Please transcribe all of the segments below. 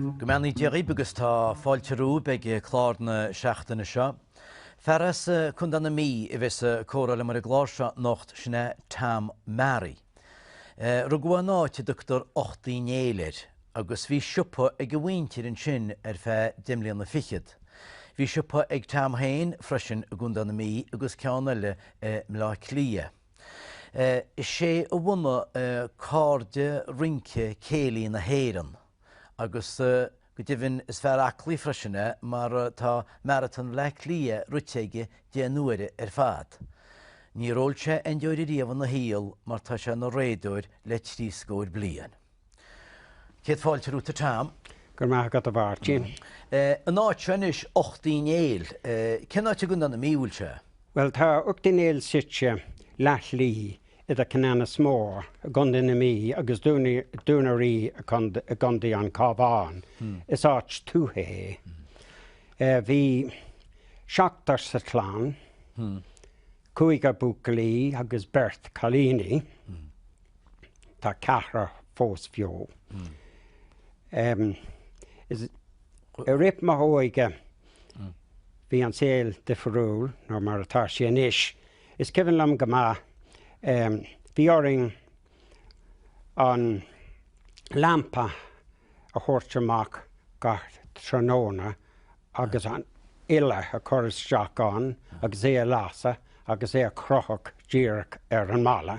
Go mbeannaí Dia dhaoib agus tá fáilte romhaib ag clár na seachtaine seo. Fear as Condae na Mí a bheas a comhrá liom ar an gclár seo anocht, sin é Tom Marry. Rugadh é in áit a dtugtar Ucht Uí Néill air agus bhí siopa ag a mhuintir ansin ar feadh deich mbliana fichead. Bhí siopa ag Tom féin freisin i gCondae na Mí agus ceann eile i mBleá Cliath. Is é a bhunaigh Cairde Rince Céilí na hÉireann. Agus go deimhin is fear aclaí freisin é mar tá Maratón Bhleá Cliath rite aige deich n-uaire ar fad. Níor ól sé aon deoir riamh ina shaol mar tá sé ina réadóir le trí scóir bliain. Céad fáilte romhat a Tom. Go raibh maith agat a Mháirtín. An áit seo anois, Ucht Uí Néill, cén áit i gContae na Mí a bhfuil sé? Bhuel, tá Ucht Uí Néill suite leath-shlí idir Ceanannas Mór i gContae na Mí agus Dún a' Rí i gContae an Chábháin. Is áit tuaithe é. Bhí seachtar sa chlann, cúigear buachaillí agus beirt chailíní. Tá ceathrar fós beo. I rith m'óige bhí an saol difriúil ná mar atá sé anois. Is cuimhin liom go maith, bhí orainn an lampa a thabhairt amach gach tráthnóna agus an ola a chur isteach ann agus é a lasadh agus é a chrochadh díreach ar an mballa.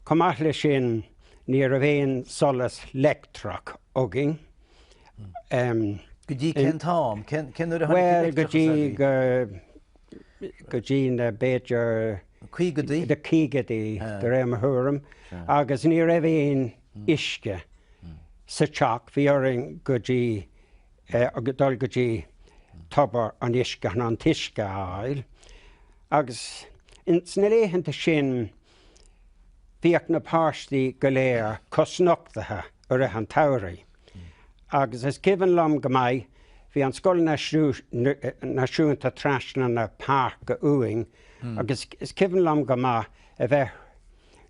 Chomh maith leis sin, ní raibh aon solas leictreach againn. Go dtí cén t-am? Cén uair a tháinig an leictreachas ar bith? Bhuel, go dtí go go dtí na, b'fhéidir, na caogaidí, de réir mo thuairim, agus ní raibh aon uisce sa teach. Bhí orainn go dtí, dul go dtí tobar an uisce chun an t-uisce a fháil. Agus sna laethanta sin Bhíodh na páistí go léir cosnochtaithe i rith an tsamhraidh agus is cuimhin liom go maith, bhí an Scoil Náisiúnta trasna na páirce uainn agus is cuimhin liom go maith a bheith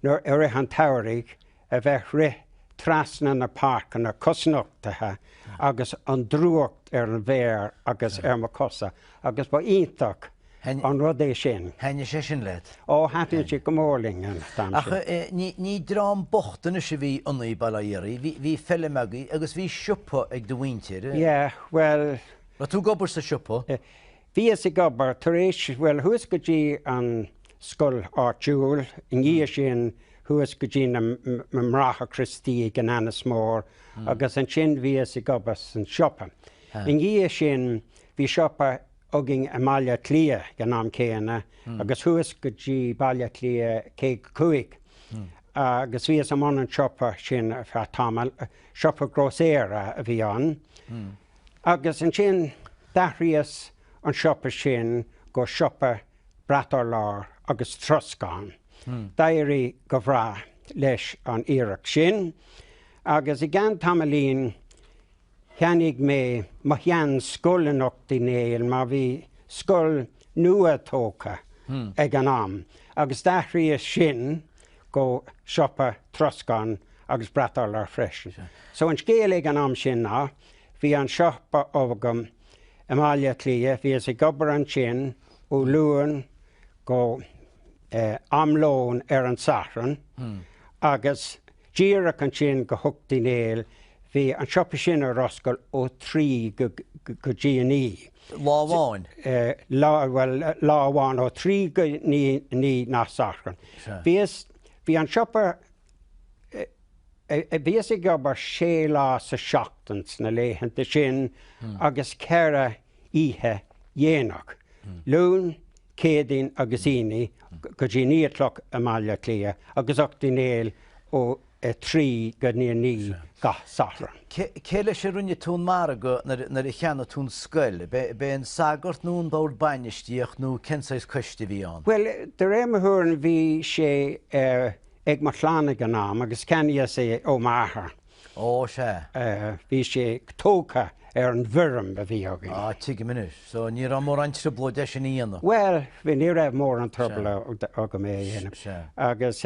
i rith an tsamhraidh a bheith rith trasna na páirceanna cosnochtaithe agus an drúcht ar an bhféar agus ar mo chosa agus ba iontach an rud é sin. Thaitnigh sé sin leat? Ó, thaitnigh sé go mór linn an t-am sin. Ach eh, ní, ní dream bocht anois a bhí ionaí, bail ó Dhia oraibh, bhí, bhí feilm agaí agus bhí siopa ag do mhuintir, eh? Yeah, bhuel. Raibh tú ag obair sa siopa? Bhíos ag obair tar éis, bhuel chuas go dtí an scoil áitiúil, i ndiaidh sin chuas go dtí na mBráithre Criostaí i gCeanannas Mór agus ansin bhíos ag obair san siopa. I ndiaidh sin bhí siopa againn i mBaile Átha Cliath ag an am céanna agus chuas go dtí Baile Átha Cliath 55 agus bhíos i mbun an siopa sin ar feadh tamaill, siopa grósaera a bhí ann. Agus ansin d'athraíos an siopa sin go siopa brat urláir agus troscán. D'éirigh go bhreá leis an iarracht sin agus i gceann tamaillín cheannaigh mé mo shean scoil in Ucht Uí Néill mar bhí scoil nua tógtha ag an am agus d'athraíos sin go siopa troscán agus brat urláir freisin. So an scéal ag an am sin ná Bhí an siopa agam i mBaile Átha Cliath, bhíos ag obair ansin ó Luan go ham lón ar an Satharn agus díreach ansin go hUcht Uí Néill, bhí an siopa sin ar oscail ó thrí go dtí a naoi. Lá amháin? Lá, bhuel lá amháin, ó thrí go naoi na Satharn. Sea. Bhíos, bhí an siopa Bhíos ag obair sé lá sa seachtain sna laethanta sin agus ceithre oíche dhéanach, Luan, Céadaoin agus Aoine, go dtí naoi a chlog i mBaile Átha Cliath agus Ucht Uí Néill ó a trí go dtí a naoi gach Satharn. Cé leis a rinne tú an margadh nuair a cheannaigh tú an scoil? B'é an sagart nó an bord bainistíochta nó cén saghas coiste a bhí ann? Bhuel, de réir mo thuairim bhí sé ag mo chlann ag an am agus cheannaíos é ó m'athair. Ó, sea. Bhí sé tógtha ar an bhfeirm a bhí againn. Ah, tuigim anois. So, ní raibh mórán trioblóid é sin a dhéanamh. Bhuel, ní raibh mórán trioblóid agam é a dhéanamh. Sea. Agus,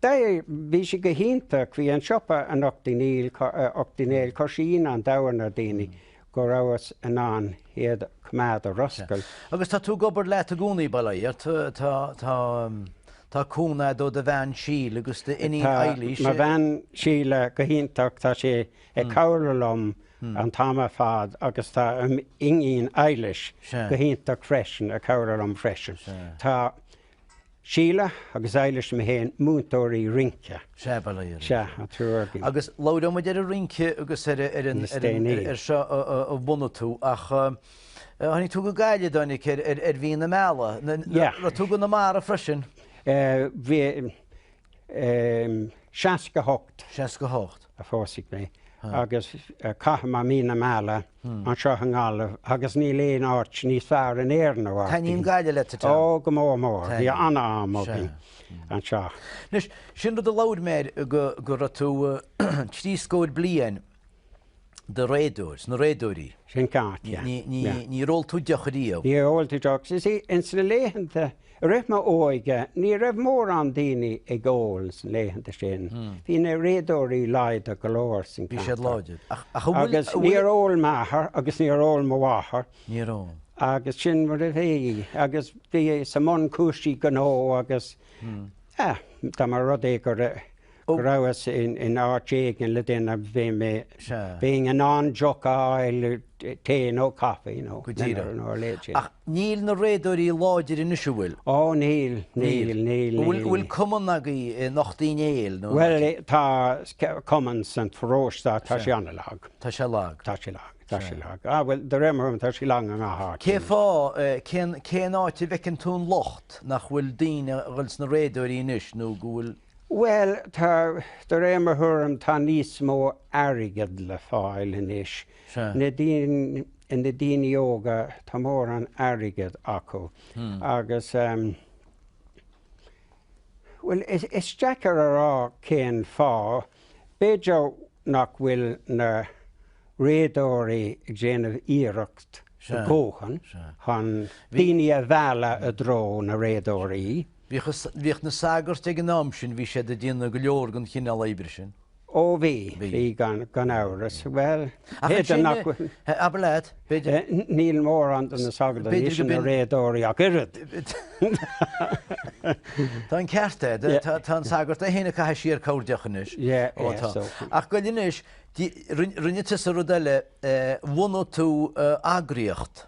bhí sé go hiontach, bhí an siopa in Ucht Uí Néill, Ucht Uí Néill, chuir sé ionadh an domhain ar na daoine. go rabhas in ann iad coimeád ar oscailt. Sea. Agus tá tú ag obair leat i gcónaí, bail ó Dhia. Tá, tá, tá, tá cúnamh ó do bhean Síle agus do iníon Eilís. Tá mo bhean Síle go hiontach, tá sí ag cabhrú liom an t-am ar fad agus tá m'iníon Eilís go hiontach freisin ag cabhrú liom freisin. Tá Síle agus Eilís mé féin, múinteoirí rince. Sea, ba léir é. Sea, an triúr againn. Agus labhróidh muid ar an rince agus ar an seó a bhunaigh tú ach tháinig tú go Gaillimh, Dominic, ar mhí na meala. Raibh tú i gConamara freisin? 68. 68. a phósadh mé agus chaitheamar mí na meala anseo i nGaillimh agus níl aon áit níos fearr in Éirinn a mhairfidh. Taitníonn Gaillimh leat, a John. Ó, go mór mór. Bhí an-am againn anseo. Anois, sin rud a labhair mé air go raibh tú trí scór bliain. do réadóir, sna réadóirí. Sin ceart, yeah, yeah. Níor ól tú deoch riamh. Níor ól tú deoch. You see, ins na laethanta, i rith m'óige, ní raibh mórán daoine ag ól sna laethanta sin. Bhí na réadóirí láidir go leor san ceantar. Bhí siad láidir. Ach agus níor ól m'athair agus níor ól mo mháthair. Níor ól. Agus sin mar a bhí. Agus bhíos i mbun cúrsaí gnó agus, eh, dá mba rud é go go rabhas in áit éigin le duine, bhí mé, beinn in ann deoch a fháil, tae nó caife nó dinnéar nó a leithéid sin. Ach níl na réadóirí láidir anois, an bhfuil? Ó níl, níl, níl. An bhfuil cumann agaibh in Ucht Uí Néill nó? Bhuel, tá cumann san pharóiste, tá sé an-lag. Tá sé lag? Tá sé lag, tá sé lag. Á bhuel, do réir mo thuairim tá sé lag i ngach áit. Cén fáth, cén, cén áit a bhfeiceann tú an locht, nach bhfuil daoine a dhul sna réadóirí anois nó go bhfuil? Bhuel, tá, de réir mo thuairim, tá níos mó airgead le fáil anois. Na daoine óga, tá mórán airgead acu agus, bhuel, is deacair a rá cén fáth. B'fhéidir nach bhfuil na réadóirí ag déanamh iarracht a dhóthain chun daoine a mhealladh i dtreo na réadóirí. Bhíodh na sagairt ag an am sin, bhí siad ag déanamh go leor den chineál oibre sin. Ó bhí, bhí gan amhras. Bhuel, b'fhéidir nach bhfuil. Abair leat, b'fhéidir. Níl mórán de na sagairt anois ina réadóirí ach oiread. Tá an ceart agat, tá an sagart é féin ag caitheamh siar corrdheoch anois. Ach go anois, rinne tusa rud eile, bhunaigh tú eagraíocht.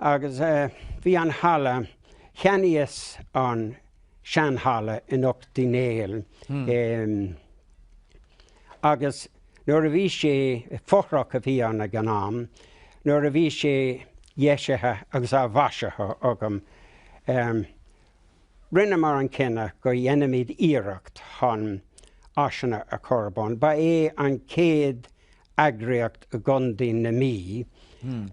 Agus bhí an halla, cheannaíos an seanhalla in Ucht Uí Néill agus nuair a bhí sé, fothrach a bhí ann ag an am, nuair a bhí sé dheisithe agus mhaisithe agam, Rinneamar an cinneadh go ndéanfaimid iarracht chun áiseanna a chur ar bun. Ba é an chéad eagraíocht i gContae na Mí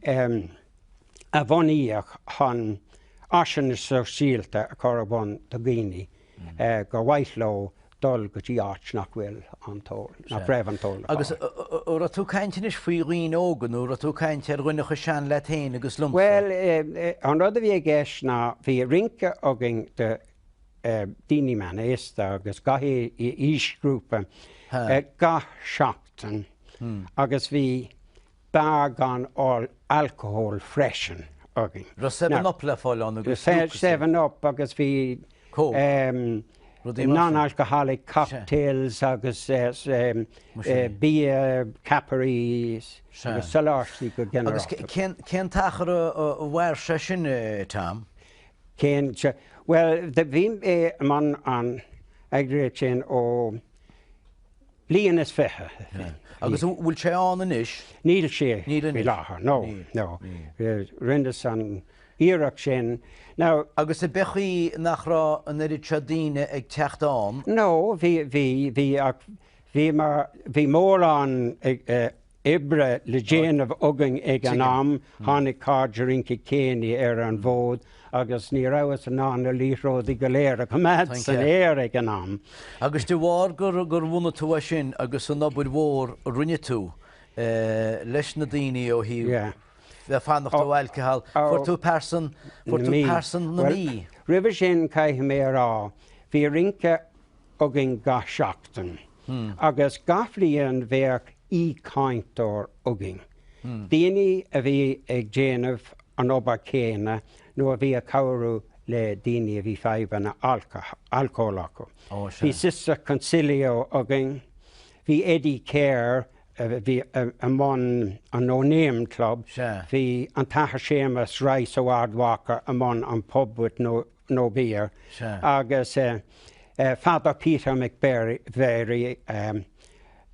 a bhunaíodh chun áiseanna sóisialta a chur ar bhun do dhaoine gur mhaith leo dul go dtí áit nach bhfuil an t-ól, nach raibh an t-ól ag Agus áil. a raibh tú ag caint anois faoi dhaoine óga nó a raibh tú ag caint ar dhuine cho sean leat féin agus liomsa? Bhuel, an rud a bhí i gceist ná bhí rince againn do daoine meánaosta agus gach aoisghrúpa gach seachtain agus bhí Beár gan alcól freisin. Againn. Bhí seven up le fáil ann agus Bhí seven up agus bhí Coke. Non-alcoholic cocktails agus bia ceapairí agus sólaistí go ginearálta. Agus cén t-achar a mhair sé sin, Tom? Cén, bhuel, bhí mé i mbun an eagraíocht sin ó bliain is fiche. Agus an bhfuil sé ann anois? Níl sé faoi láthair, no, no. Rinneas an iarracht sin, now. Agus ab é an chaoi nach raibh an oiread seo daoine ag teacht ann? No, bhí, bhí, bhí ach bhí mar, bhí mórán oibre le déanamh againn ag an am. Tháinig cairde Rince Céilí ar an bhfód agus ní rabhas in ann na liathróidí go léir a choimeád san aer ag an am. Agus de bharr gur bhunaigh tú é sin agus an obair mhór a rinne tú leis na daoine ó thaobh bheith fanacht ó alcohol, fuair tú Pearsa na Mí. Roimhe sin, caithfidh mé a rá, bhí rince. againn gach seachtain agus gach bliain bheadh aoichainteoir againn, daoine a bhí ag déanamh an obair chéanna nó a bhí ag cabhrú le daoine a bhí fadhbanna alcóil acu. Bhí Sister Consilio againn, bhí Eddie Keher a bhí i mbun an No Name Club, bhí an tAthair Séamas Rice ó Ard Mhacha i mbun an Pub with no beer. Sea. Agus Father Peter McVerry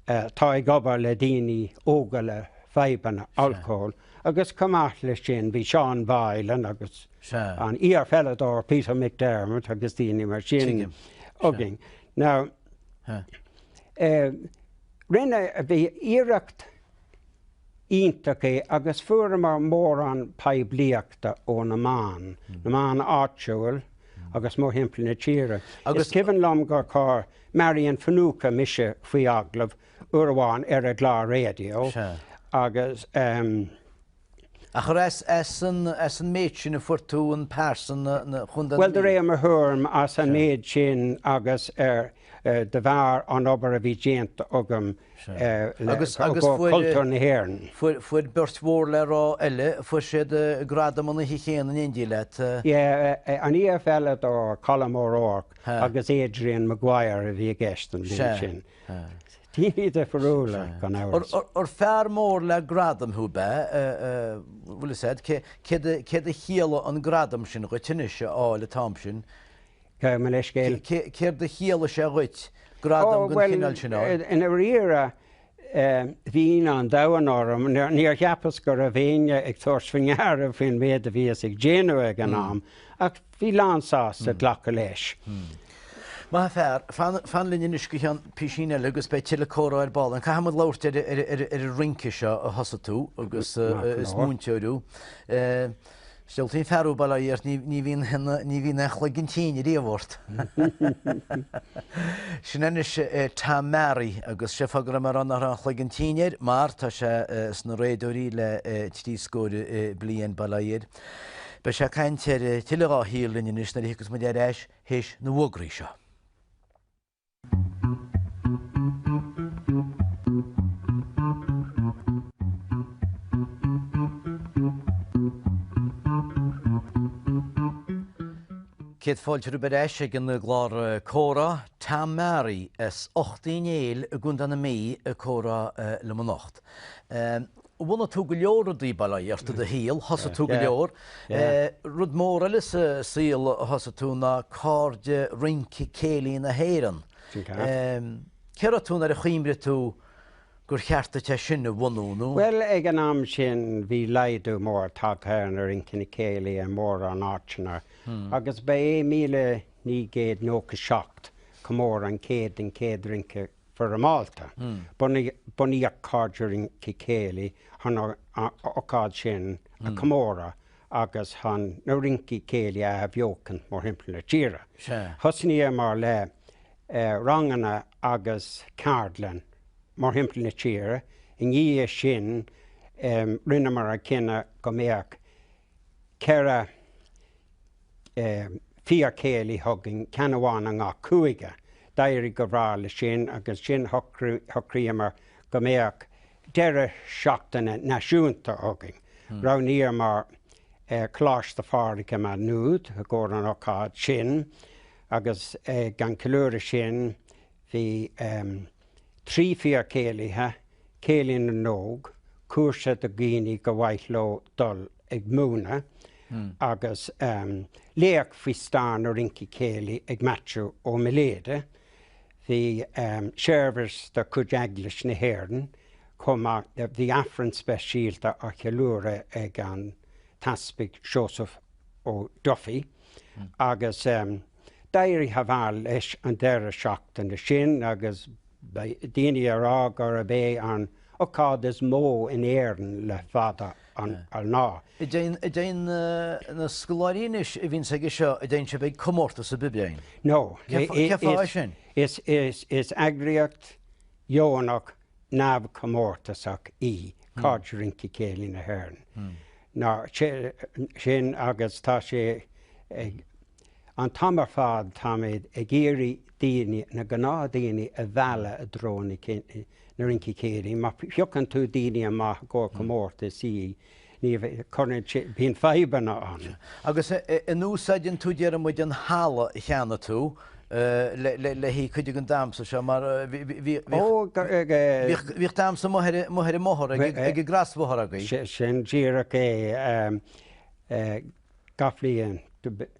atá ag obair le daoine óga le fadhbanna alcóil agus chomh maith leis sin bhí Seán Boylan agus an iarPheileadóir Peter McDermott agus daoine mar sin againn. Now rinne, ba iarracht iontach é agus fuaireamar mórán poiblíochta ó na meáin, na meáin áitiúil agus mórthimpeall na tíre. Is cuimhin liom gur chuir Marian Finucane mise faoi agallamh uair amháin ar a clár raidió agus. Agus as an méid sin a fuair tú an pearsa na contae. Bhuel de réir mo thuairim as an méid sin agus de bharr an obair a bhí déanta agam agus i gcomhair cultúr na hÉireann. Fuair beirt mhór le rá eile, fuair siad gradam an oíche chéanna in éindí leat. Sea, an EF eile do Colm O'Rourke agus Adrian Maguire a bhí i gceist an bhliain sin. Daoine difriúla, gan amhras. Ar fear mór le gradam thú, b'ea? Bhuel, is ea. Céard a chiallaigh an gradam sin dhuit anois a fháil an t-am sin? Gabh mo leithscéal. Céard a chiallaigh sé dhuit, gradam den chineál sin a fháil? I ndairíre, bhí ionadh an domhain orm. Níor cheapas go raibh éinne ag tabhairt faoi ndeara faoin mhéid a bhíos ag déanamh ag an am, ach bhí lán-sásta glacadh leis. Maith fear. Fan linn anois go cheann písín eile agus beidh tuilleadh comhrá ar ball ann. Caithfimid labhairt ar an rince seo a thosaigh tú agus is múinteoir thú. Is diabhaltaí an fear thú, bail ó Dhia ort, ní bhíonn, ní bhíonn aon chloigeann tinn riamh ort. Sin anois é Tom Marry agus sé an fáth go raibh mé ag rá nach raibh aon chloigeann tinn air mar tá sé sna Réadóirí le trí scóir bliain, bail ó Dhia air. Beidh sé ag caint ar tuilleadh dhá shaol linn anois nuair a thiocfas muid ar ais théis na bhfógraí seo. Céad fáilte romhaibh ar ais ag an gclár Comhrá. Tom Marry as Ucht Uí Néill i gContae na Mí ag comhrá liom anocht. bhunaigh tú go leor rudaí, bail ó Dhia ort i do shaol, thosaigh tú go leor. Rud mór eile sa saol a thosaigh tú ná Cairde Rince Céilí na hÉireann. Cé raibh tú nuair a chuimrigh tú gur cheart duit é sin a bhunú nó? Bhuel, ag an am sin bhí laghdú mór tagtha ar na rinceanna céilí i mórán áiteanna agus ba é míle naoi gcéad nócha seacht, comóradh an chéid den chéad rince foirmeálta. Bunaíodh Cairde Rince Céilí chun an ócáid sin a chomóradh agus chun na rincí céilí a athbheochaint mór thimpeall na tíre. Thosnaíomar le ranganna agus ceardlainn mór thimpeall na tíre. I ndiaidh sin rinneamar an cinneadh go mbeadh 4 fíorchéilí againn, ceann amháin i ngach cúige. D'éirigh go breá leis sin agus ansin shocraíomar go mbeadh deireadh seachtaine náisiúnta againn. Roghnaíomar Coláiste Phádraig i Maigh Nuad i gcomhair an ócáid sin agus an ceiliúradh sin Bhí trí fíorchéilithe, Céilí na nÓg, cúrsa do dhaoine gur mhaith leo dul ag múineadh, agus léacht faoi stair na rince céilí ag Maitiú Ó Miléide. Bhí seirbhis de chuid Eaglais na hÉireann chomh maith. Bhí Aifreann speisialta á cheiliúradh ag an tEaspag Seosamh Ó Dufaigh agus. D'éirigh thar barr leis an deireadh seachtaine sin agus bhí daoine ag rá gurb é an ocáid is mó in Éirinn le fada an lá. An dtéann na scoláirí anois a bhíonn agaibhse, an dtéann siad ag comórtas ná aon rud? No. Cén fáth é sin? Is eagraíocht dheonach neamhchomórtasach í Cairde Rince Céilí na hÉireann. Sin agus tá sé ag. An t-am ar fad táimid ag iarraidh daoine, na gnáthdaoine, a mhealladh i dtreo na rincí céilí. Má phiocann tú daoine amach i gcomhair comórtais, sea, ní chuireann, bíonn fadhbanna ann. Agus an úsáideann tú, déarfaimid, an halla i gcónaí le haghaidh cuid den damsa seo? Mar bhíodh damsa amuigh ar an mbóthar, ag an gcrosbhóthar agaibh. Sin díreach é. gach bliain.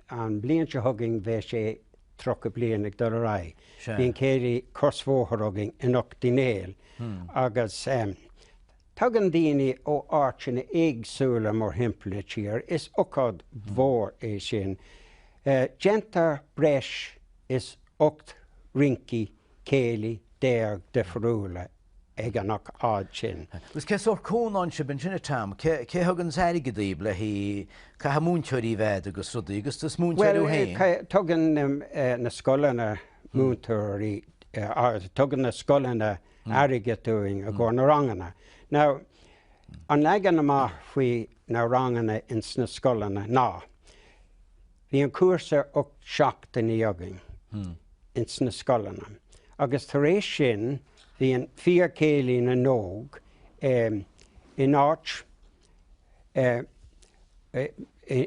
An bhliain seo chugainn beidh sé tríocha bliain ag dul ar aghaidh. Bíonn céilí crosbhóthair againn in Ucht Uí Néill agus tagann daoine ó áiteanna éagsúla mórthimpeall na tíre. Is ocáid mhór é sin. Déantar breis is ocht rincí céilí déag difiriúla ag an ocáid sin. Agus cé sórt cúnamh a bhíonn agaibh a Tom? Cé a thuganns an t- airgead daoibh le haghaidh? Caithfidh múinteoirí a bheith agat agus rudaí agus tú is múinteoir thú féin. Bhuel, tugann na scoileanna múinteoirí, tugann na scoileanna airgead dúinn i gcomhair na ranganna. Now, an leagan amach faoi na ranganna ins na scoileanna ná, Bíonn cúrsa ocht seachtainí againn ins na scoileanna agus tar éis sin bíonn Fíorchéilí na nÓg in áit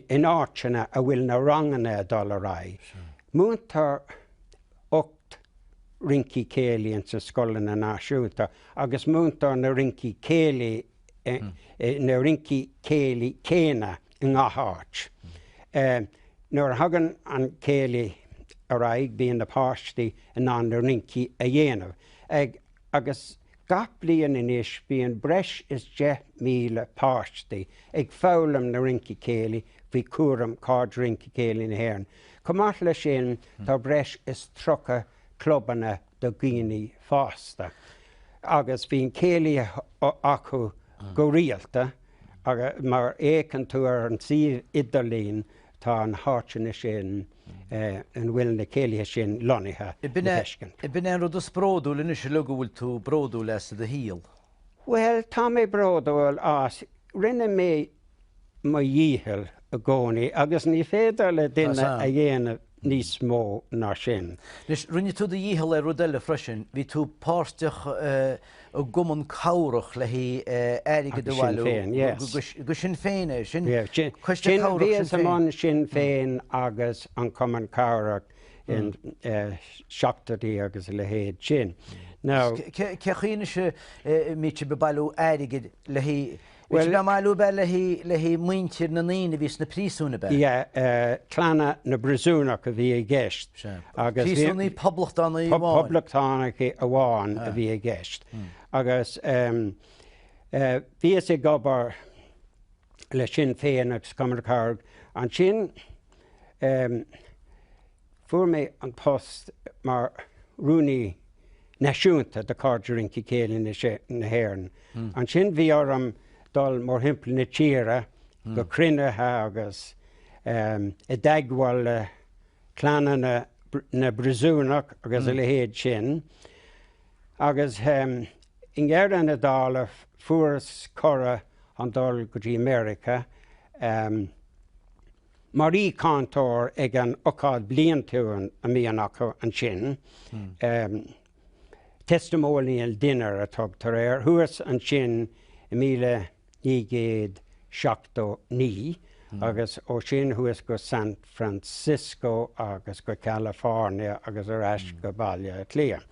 in áiteanna a bhfuil na ranganna ag dul ar aghaidh. Múintear ocht rincí céilí ins na scoileanna náisiúnta agus múintear na rincí céilí na rincí céilí céanna i ngach áit. Nuair a thagann an céilí ar aghaidh bíonn na páistí in ann na rincí a dhéanamh ag agus gach bliain anois bíonn breis is 10,000 páistí ag foghlaim na rince céilí faoi chúram Cairde Rince Céilí na hÉireann. Chomh maith leis sin tá breis is 30 clubanna do dhaoine fásta agus bíonn céilí acu go Go rialta, agus má fhéachann tú ar an suíomh idirlín, tá na háiteanna sin ina bhfuil na céilithe sin lonnaithe le feiscint. Ab in é an rud is bródúil anois uilig go bhfuil tú bródúil as i do shaol. Bhuel, tá mé bródúil as. Rinne mé mo dhícheall i gcónaí agus ní féidir le duine a dhéanamh níos mó ná sin. Anois, rinne tú do dhícheall ar rud eile freisin, bhí tú páirteach i gcumann cabhrach le haghaidh airgead a bhailiú. Do Sinn Féin é sin? Coiste Cabhrach Sinn Féin. Bhíos i mbun Sinn Féin agus an Cumann Cabhrach in seachtóidí agus a leithéid sin. Cé chaoi anois a mbítear ag bailiú airgid le haghaidh. Bhí sé go maith lúb air le haghaidh muintir na ndaoine a bhí sna príosúin ab ea? Yeah, clanna na bpríosúnach a bhí i gceist. Príosúnaigh Phoblachtánaigh amháin? Phoblachtánaigh amháin a bhí i gceist. Agus bhíos ag obair le Sinn Féin agus Cumann na Carad ansin. Fuair mé an post mar rúnaí náisiúnta do Cairde Rince Céilí na hÉireann. Ansin bhí orm dul mórthimpeall na tíre go cruinnithe agus i dteagmháil le clanna na bpríosúnach agus a leithéid sin. Agus i ndeireadh na dála fuaireas cuireadh chun dul go dtí Meiriceá. mar aoichainteoir ag an ócáid bliantúil a mbíonn acu ansin, testimonial dinner a tugtar air, thuas ansin i míle naoi gcéad seachtó naoi agus ó sin thuas go San Francisco agus go California agus ar ais go Baile Átha Cliath.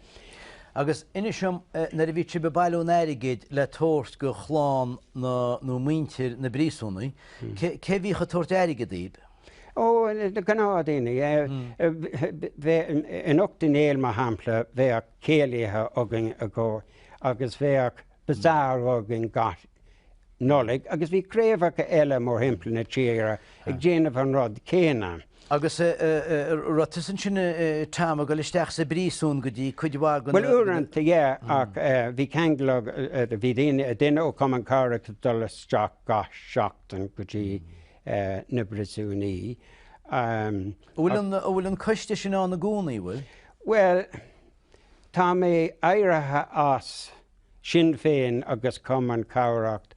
Agus inis dom, nuair a bhí sibh ag bailiú an airgid le tabhairt go chlann na, nó muintir na bpríosúnaigh, cé a bhíodh ag tabhairt airgead daoibh? Ó, na gnáthdaoine. In Iúr Cinn Trá, mar shampla, bheadh céilithe againn i gCo. agus bheadh bazaar againn gach Nollaig agus bhí craobhacha eile mórthimpeall na tíre ag déanamh an rud céanna. Agus raibh tusa ansin Tom, ag dul isteach sa bpríosún go dtí cuid mhaith de na. Bhuel uaireanta yeah ach bhí ceangal agam, bhí daoine, duine ó Chumann Cabhrach ag dul isteach gach seachtain go dtí na bpríosúnaí. An bhfuil an coiste sin ann i gcónaí, an bhfuil? Bhuel, Tá mé éirithe as Sinn Féin agus Cumann Cabhrach,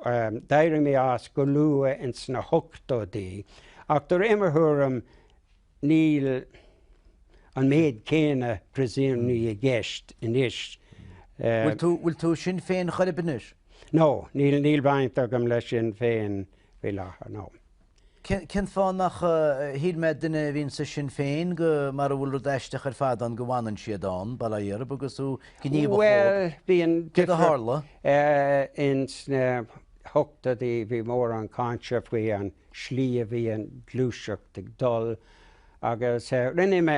d'éirigh mé as go luath ins na hochtóidí, ach de réir mo thuairim níl an méid céanna priosúnaigh i gceist anois. Bhfuil tú i Sinn Féin chor ar bith anois? No, níl baint agam le Sinn Féin faoi láthair, no. Cén fáth nach, shíl mé duine a bhíonn sa Sinn Féin go, mara bhfuil rud aisteach ar fad ann go bhfanann siad ann, ba léir agus thú gníomhach Bhuel, chomh bíonn cé go tharla. in sna hochtóidí bhí mórán cáinte faoi an slí a bhí an ghluaiseacht ag dul agus rinne mé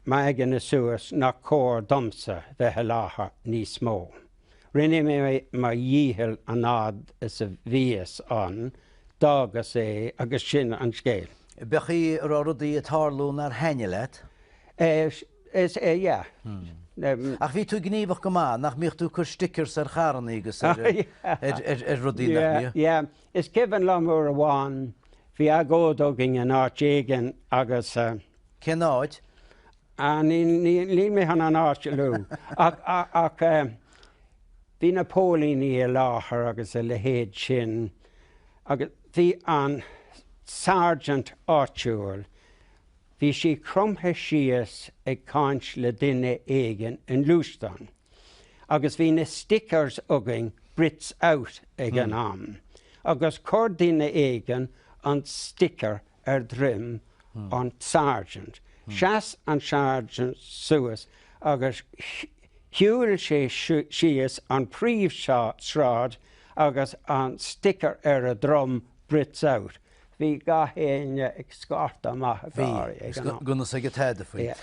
m'aigne suas nach cóir domsa bheith i láthair níos mó. Rinne mé mo dhícheall an fhad is a bhíos ann, d'fhágas é agus sin an scéal. B'fhéidir go raibh rudaí ag tarlú nár thaitnigh leat? Is ea, yeah. Ach bhí tú gníomhach go maith, nach mbíodh tú ag cur stickers ar charrannaí agus ar rudaí, nach mbíodh? Yeah, yeah. Is cuimhin liom uair amháin, bhí agóid againn in áit éigin agus. Cén áit? Ah, níl mé chun an áit a lua, ach bhí na póilíní i láthair agus a leithéid sin, agus bhí an sergeant áitiúil, bhí sé cromtha síos ag caint le duine éigin i ngluaisteán, agus bhí na stickers againn Brits Out ag an am, agus chuir duine éigin an sticker ar dhroim an tSargeant. Sheas an Sargeant suas agus shiúil sé síos an príomhshráid agus an sticker ar a dhrom Brits Out. Bhí gach éinne ag scairteadh amach ag gáirí ag an am. Bhí, gan a fhios aige tada faoi.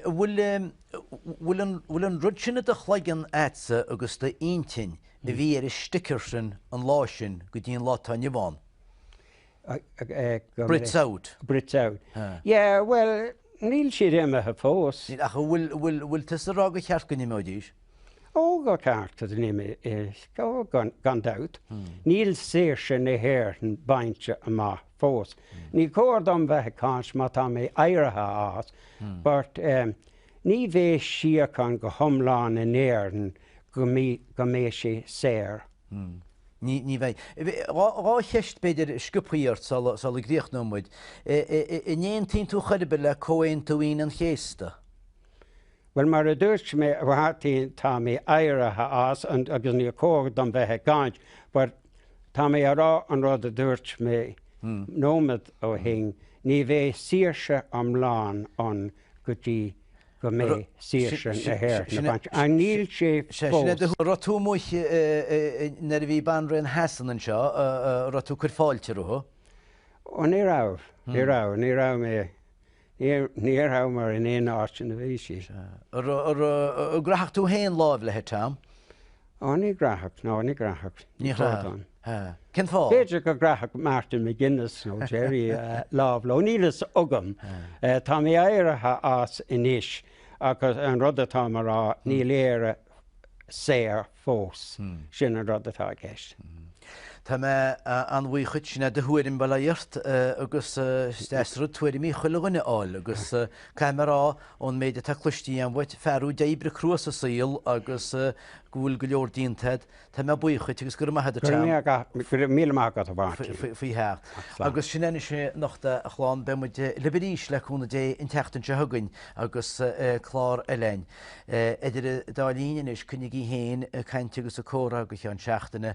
Bhfuil an rud sin i do chloigeann a'dsa agus i d'intinn a bhí ar an sticker sin an lá sin go dtí an lá atá inniu ann? Brits out. Brits out. Yeah, well, níl siad imithe fós. Ach an bhfuil tusa ag rá gur cheart go n-imeoidís? Ó, ba cheart go n-imeoidís, gan dabht. Níl saoirse na hÉireann bainte amach fós. Ní cóir dom bheith ag caint má tá mé éirithe as, but ní bheidh síocháin go hiomlán in Éirinn go mbeidh sí saor. Ní bheidh. Dhá cheist, b'fhéidir, sciobtha ort sula gcríochnóidh muid. An aontaíonn tú chor ar bith le Comhaontú Aoine an Chéasta? Bhuel, mar a dúirt mé, tá mé éirithe as agus ní cóir dom bheith ag caint but tá mé a rá an rud a dúirt mé nóiméad ó shin, ní bheidh saoirse iomlán ann go dtí go mbeidh saoirse na hÉireann bainte amach. Ach níl sé fós. Raibh tú amuigh nuair a bhí Banríon Shasana anseo, raibh tú ag cur fáilte roimpi? Ó ní raibh, ní raibh, ní raibh mé, ní rabhamar in aon áit ina bhí sí. An gcraithfeá féin lámh léi? Ó ní chraithfeadh, ó ní chraithfeadh? Ní chraithfinn. Cén fáth? B'fhéidir go gcraithfeadh Martin McGuinness nó Gerry lámh léi, níl fhios agam. Tá mé éirithe as anois ach an rud atáim a rá, níl Éire saor fós, sin an rud atá i gceist. Tá mé an-bhuíoch dhuit, sin do thuairim, fair play dhuit agus is deas rud tuairimí chuile dhuine a fháil agus caithfidh mé a rá, ón méid atá cloiste agam uait, fear thú a d'oibrigh crua sa saol agus go bhfuil go leor déanta agat, tá mé buíoch dhuit agus go raibh maith agat, Go raibh míle maith agat, a Mháirtín. faoi theacht. Agus sin é anois anocht, a chlann, beidh muid libh arís, le cúnamh Dé, an tseachtain seo chugainn agus clár eile againn. Idir an dá linn anois, coinnígí féin ag caint agus ag comhrá go ceann seachtaine.